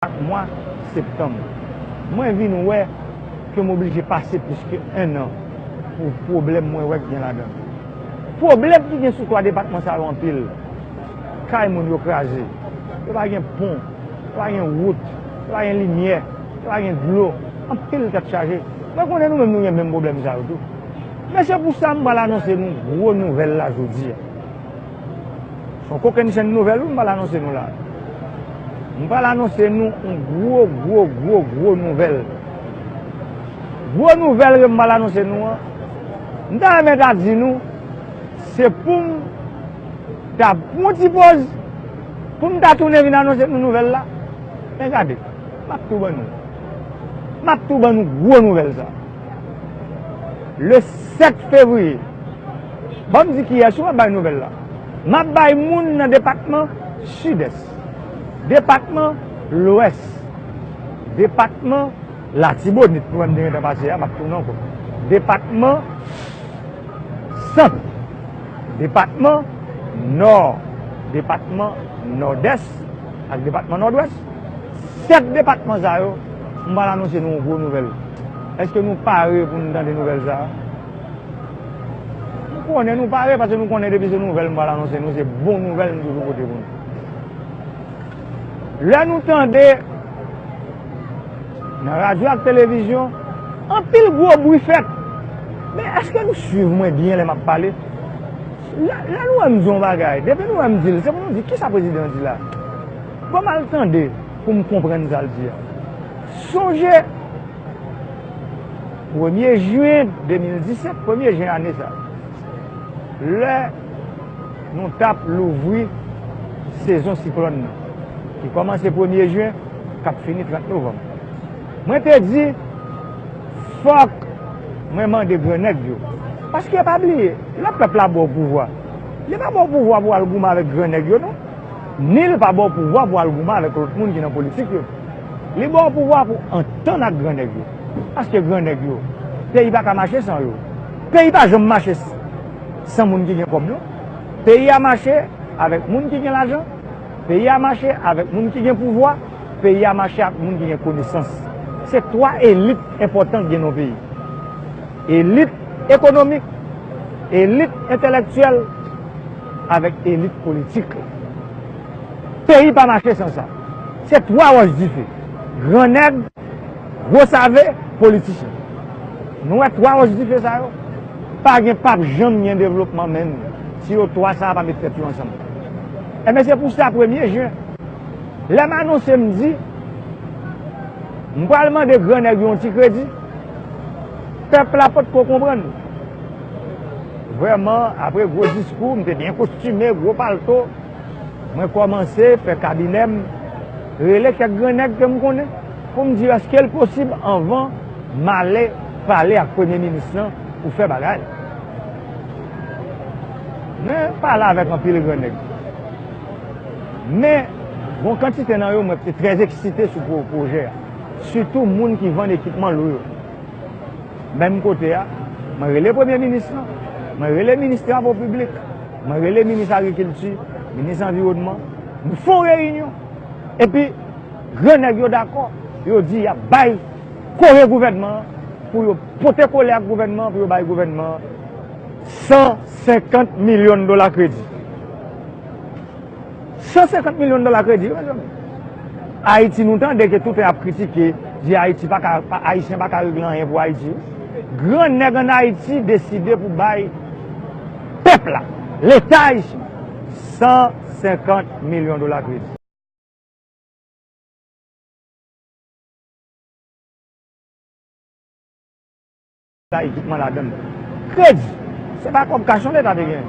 Chak mwa septanm, mwen vin wè ke m oblije pase plis ke 1 an pou pwoblèm mwen wè k gen ladan. Pwoblèm ki gen sou 3 depatman sa yo anpil. Kay moun yo kraze, yo pa gen pon, yo pa gen wout, yo pa gen limyè, yo pa gen dlo, anpil tèt chaje. Mwen konnen nou menm nou gen menm pwoblèm sa yo tou. Men se pou sa m pral anonse nou gwo nouvèl la jodi a. Son kokenn chenn nouvèl wi m pral anonse nou la. M pral anonse nou yon gwo gwo gwo gwo nouvèl. Gwo nouvèl ke m pral anonse nou an, m ta renmen ta di nou se pou m ta pran yon ti poz pou m ta tounen vin anonse nou nouvèl la. Men gade, m ap tou ban nou. M ap tou ban nou gwo nouvèl sa. Le 7 fevriye. Banm di kiyès ou ap bay nouvèl la. Map bay moun nan depatman Sidès. Depatman Lwès. Depatman Latibonit nou menm te gentan pase ya map tounen ankò. Depatman Sant. Depatman Nò. Depatman Nòdès ak depatman Nòdwès. 7 depatman sa yo. M pral anonse nou yon gwo nouvèl. Èske nou pare pou nou tande nouvèl sa a? M konnen nou pare paske nou konnen depi se nouvèl m pral anonse nou, se bon nouvèl m toujou pote pou nou. Lè nou tande nan radyo ak televizyon anpil gwo bri fèt, men èske nou suiv mwen byen lè m ap pale? Lè nou wè m di yon bagay, depi nou wè m di l, se pou nou di kisa prezidan an di la a? Fòm al tande pou m konprann sa l di a. Sonje premye jen 2017, premye jen ane sa, lè nou t ap louvri sezon siklòn nan ki kòmanse premye jen k ap fini 30 novanm. Mwen te di fòk mwen mande gran nèg yo paske pa bliye lè pèp la ba w pouvwa li pa ba w pouvwa pou w al goumen avèk gran nèg yo non. Ni li pa ba w pouvwa pou al goumen avèk lòt moun ki nan politik yo. Li ba w pouvwa pou antann ak gran nèg yo. Paske gran nèg yo, peyi pa ka mache san yo. Peyi pa janm mache san moun ki gen kòb non. Peyi a mache avèk moun ki gen lajan, peyi a mache avèk moun ki gen pouvwa, peyi a mache ak moun ki gen konesans. Se twa elit enpòtan ki gen nan yon peyi. Elit ekonomik, elit entèlèktyèl. avèk elit politik la. Peyi pa mache san sa. Se 3 wòch dife, gran nèg, gwo save, politichen. Nou wè 3 wòch dife sa yo? Pa gen pap janm gen devlopman menm si yo 3 sa a pa met tèt yo ansanm. Enben se pou sa premye jen, lè m anonse m di m pral mande gran nèg yo yon ti kredi, pèp la potko konprann. Vrèman, apre gwo diskou, m te byen kostime, gwo palto, mwen kòmanse fè kabinè m, rele kèk gran nèg ke m konnen pou m di yo èske l posib anvan m ale pale ak premye minis lan pou fè bagay la. Mwen pale avèk anpil gran nèg. Men, gon kantite nan yo mwen te trè eksite sou pwojè a, sitou moun ki vann ekipman lou yo. Menm kote a, mwen rele premye minis lan, mwen rele minis travo piblik, mwen rele minis agrikilti, minis anviwònman, nou fè yon reyinyon. Epi, gran nèg yo dakò, yo di y ap bay kore gouvènman an pou yo pote kole ak gouvènman an pou yo bay gouvènman an 150 milyon dola kredi. 150 milyon dola kredi yo mezanmi. Ayiti nou tande ke toute ap kritike, di Ayiti pa ka, Ayisyen pa ka regle anyen pou Ayiti. Gran nèg an Ayiti deside pou bay pèp la, leta Ayisyen 150 milyon dola kredi. Sa ekipman ladan l. Kredi! Se pa kòb kach non Leta te genyen.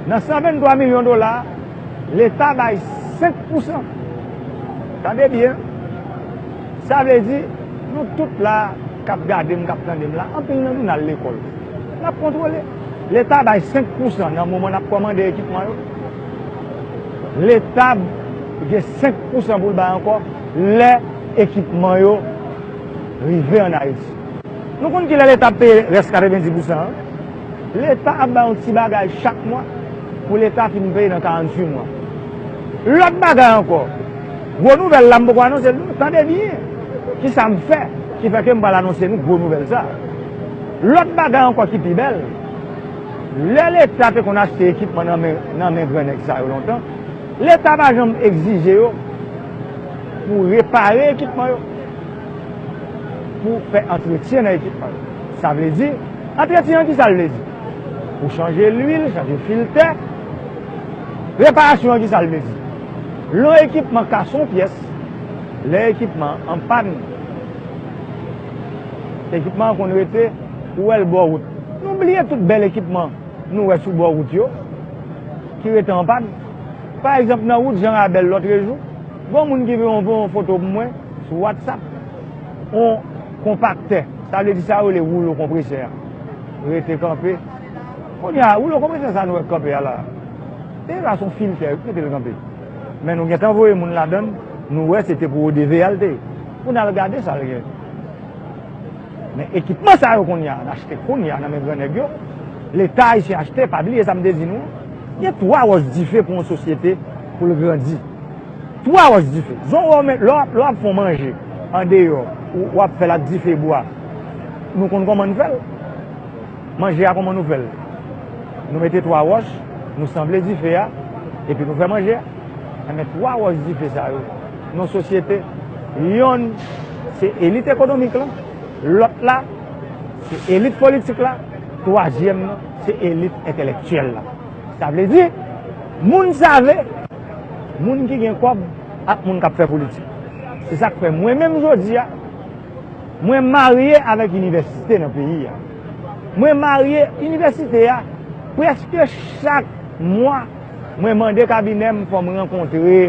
Nan 123 milyon dola a, Leta bay 5 pousan. Tande byen! Sa vle di, nou tout la a k ap gade m, k ap tande m la, anpil nan nou n al lekòl. N ap kontwole. Leta bay 5 pousan nan moman n ap kòmande ekipman yo. Leta gen 5 pousan pou l bay ankò lè ekipman yo rive ann Ayiti. Nou konn kilè leta ap peye rès 90 pousan an? Leta ap bay yon ti bagay chak mwa pou leta fin peye nan 48 mwa. Lòt bagay ankò, gwo nouvèl la m poko anonse l non, tande byen kisa m fè ki fè ke m pral anonse nou gwo nouvèl sa. Lòt bagay ankò ki pi bèl, lè leta te konn achte ekipman nan men gran nèg sa yo lontan, leta pa janm egzije yo pou repare ekipman yo. pou fè antretyen nan ekipman yo. Sa vle di, antretyen an ki sa l vle di? Pou chanje lwil, chanje filtè. Reparasyon an ki sa l vle di? Lè yon ekipman kase yon pyès, lè ekipman an an pàn, ekipman an konn rete, ou wè l bò wout. Nou bliye tout bèl ekipman nou wè sou bò wout yo ki rete an pàn. Pa egzanp nan wout Jan Rabèl lòtrejou, gen yon moun ki voye yon foto pou mwen. Sou WhatsApp, yon konpaktè, sa vle di sa yo rele woulo konpresè a, rete kanpe. Kounye a, woulo konpresè sa a nou wè k kanpe a la a, se la se yon filtè wi k mete l kanpe. Men nou gentan voye moun ladan l, nou wè se te pou ODVA l te ye. Pou n al gade sa l gen. Men ekipman sa yo kounye a, n achte kounye a nan men gran nèg yo, Leta ayisyen achte, pa bliye sa m te di nou an, gen twa wòch dife pou yon sosyete pou l grandi. Twou a wòch dife. Zon wè w men lè w ap fè yon manje andeyò ou w ap fè l ak dife bwa nou konn kòman n fè l. Manje a kòman nou fè l? Nou mete twou a wòch, nou sanble dife a epi nou fè manje a. Enben twou a wòch dife sa yo nan sosyete yonn se elit ekonomik lan, lòt la se elit politik la, twazyèm nan se elit entelektyèl la. Sa vle di moun save. Moun ki gen kòb ak moun k ap fè politik. Se sa k fè mwen menm jodi a, mwen marye avèk inivèsite nan peyi a. Mwen marye, inivèsite a, prèske chak mwa mwen mande kabinè m fò m rankontre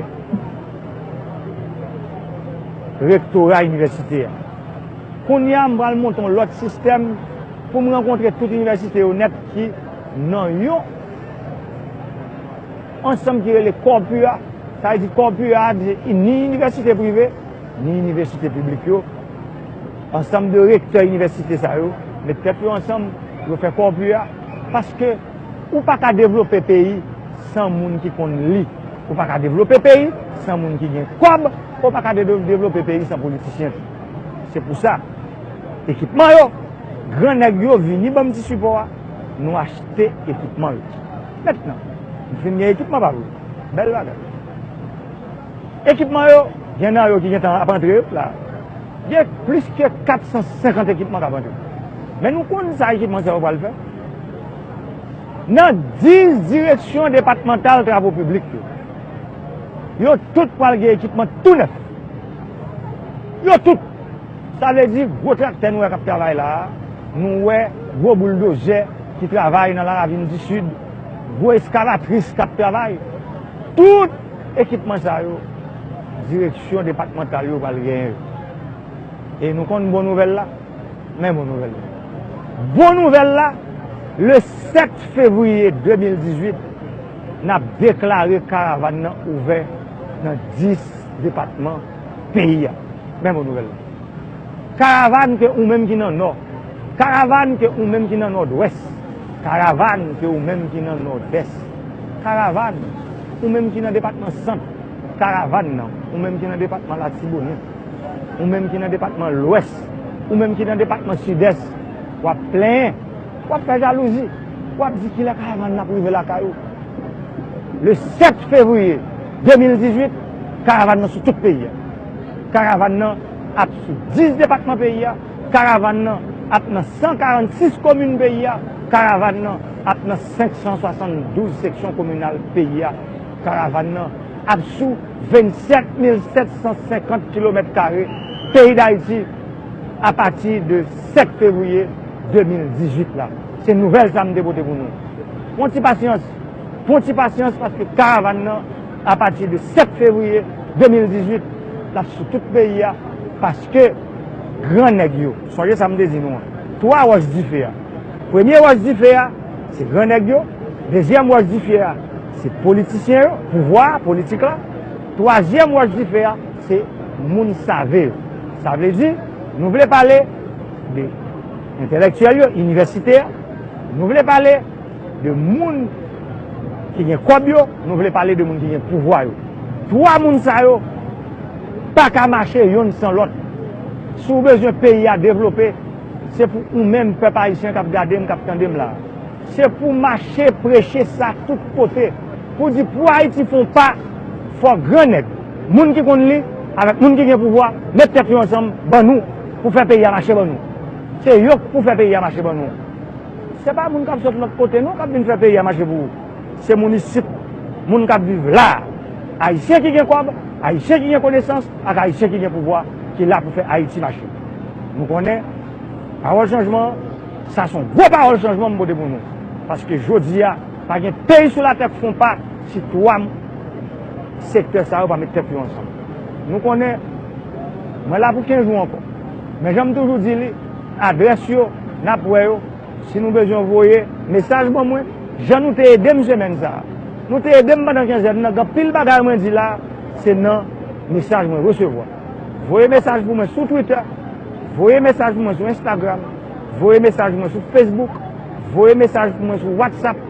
rektora inivèsite a. Kounye a m pral monte yon lòt sistèm pou m rankontre tout inivèsite yo nèt ki nan yon. Ansanm ki rele Corpua, sa vle di Corpua a di ni inivèsite prive, ni inivèsite piblik yo, ansanm de rektè inivèsite sa yo met tèt yo ansanm, yo fè Corpua, paske ou pa ka devlope peyi san moun ki konn li, ou pa ka devlope peyi san moun ki gen kòb, ou pa ka devlope peyi san politisyen tou. Se pou sa, ekipman yo, gran nèg yo vini ban m ti sipò a, nou achte ekipman yo. Mèt nan fin gen ekipman pa vre. Bèl bagay. Ekipman yo, gen nan yo ki gentan ap antre yo la. Gen plis ke 450 ekipman k ap antre. Men nou konn sa ekipman sa yo pral fè? Nan 10 direksyon depatmantal travo piblik yo, yo tout pral gen ekipman tou nèf. Yo tout! Sa vle di gwo traktè nou wè k ap travay la a, nou wè gwo bouldozè. ki travay nan Laravin di Sid, gwo eskavatris k ap travay, tout ekipman sa yo, direksyon depatmantal yo pral genyen yo. E nou konn bon nouvèl la? Men bon nouvèl la. Bon nouvèl la, le 7 fevriye 2018, n ap deklare karavàn nan ouvè nan 10 depatman peyi a. Men bon nouvèl la. Karavann ke ou menm ki nan nò Karavann ke ou menm ki nan nòdwès Karavann ke ou menm ki nan nòdès Karavann ou menm ki nan depatman sant Karavann nan ou menm ki nan depatman latibonit Ou menm ki nan depatman lwès Ou menm ki nan depatman sidès W ap plenyen W ap fè jalouzi W ap di kilè karavann nan ap rive lakay ou Le 7 fevriye 2018 Karavann nan sou tout peyi a. Karavan nan ap sou 10 depatman peyi a, karavan nan ap nan 146 komin peyi a, karavan nan ap nan 572 seksyon kominal peyi a, karavan nan ap sou 27750 kilomèt kare peyi Dayiti apati de 7 fevriye 2018 la. Se nouvèl sa m te pote pou nou. Pran ti pasyans, pran ti pasyans paske karavan nan. Apati de 7 fevriye 2018, l ap sou tout peyi a, paske gran nèg yo, sonje sa m te di nou an, twa wòch dife a, premye wòch dife a, se gran nèg yo, dezyèm wòch dife a, se politisyen yo, pouvwa a, politik la, twazyèm wòch dife a, se moun save yo. Sa vle di, nou vle pale de entèlèktyèl yo, inivèsite a, nou vle pale. De moun ki gen kòb yo, nou vle pale de moun ki gen pouvwa yo. Twa moun sa yo pa ka mache yonn san lòt. Si w bezwen peyi a devlope, se pou ou menm pèp ayisyen k ap gade m, k ap tande m la a. Se pou w mache preche sa tout kote pou w di pou Ayiti fè yon pa, fò gran nèg, moun ki konn li avèk moun ki gen pouvwa met tèt yo ansanm ban nou pou fè peyi a mache ban nou. Se yo k pou fè peyi a mache ban nou. Se pa moun k ap sot lòt kote non k ap vin fè peyi a mache pou ou. Se moun isit, moun k ap viv la a. Ayisyen ki gen kòb, Ayisyen ki gen konesans ak Ayisyen ki gen pouvwa ki la pou fè Ayiti mache. Nou konnen pawòl chanjman an, sa s on gwo pawòl chanjman m pote pou nou. Paske jodi a, pa gen peyi sou latè k fon pa si twa sektè sa yo pa met tèt yo ansanm. Nou konnen mwen la pou kenz jou ankò. Men jan m toujou di li. Adrès yo, nap wè yo. Si nou bezwen voye mesaj ban mwen, jan nou te edem semèn sa a. Nou te edem pandan kenzèn nan, gen anpil bagay mwen di la se nan mesaj mwen resevwa. Voye mesaj pou mwen sou Twitter, voye mesaj pou mwen sou Instagram, voye mesaj pou mwen sou Facebook, voye mesaj pou mwen sou WhatsApp,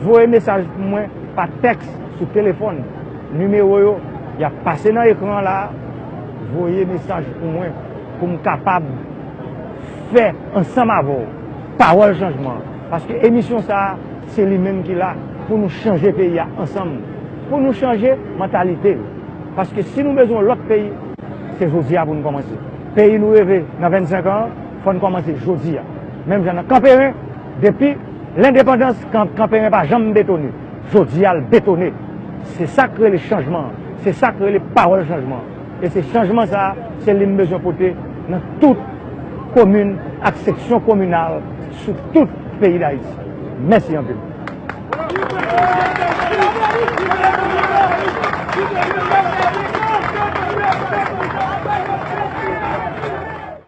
voye mesaj pou mwen pa tèks sou telefòn. Nimewo yo yap pase nan ekran an la a. Voye mesaj pou mwen. pou m kapab fè ansanm avè w pawòl chanjman an paske emisyon sa a se li menm ki la pou nou chanje peyi a ansanm pou nou chanje mantalite yo paske si nou bezwen yon lòt peyi se jodi a pou nou kòmanse peyi nou reve nan 25 an fò n kòmanse jodi a menm jan nan kanperen depi lendepandans kanperen pa janm betone jodi a l betone se sa k rele chanjman an se sa k rele pawòl chanjman an. E se chanjman sa a, se li m bezwen pote nan tout komin ak seksyon kominal sou tout peyi Dayiti. Mèsi anpil.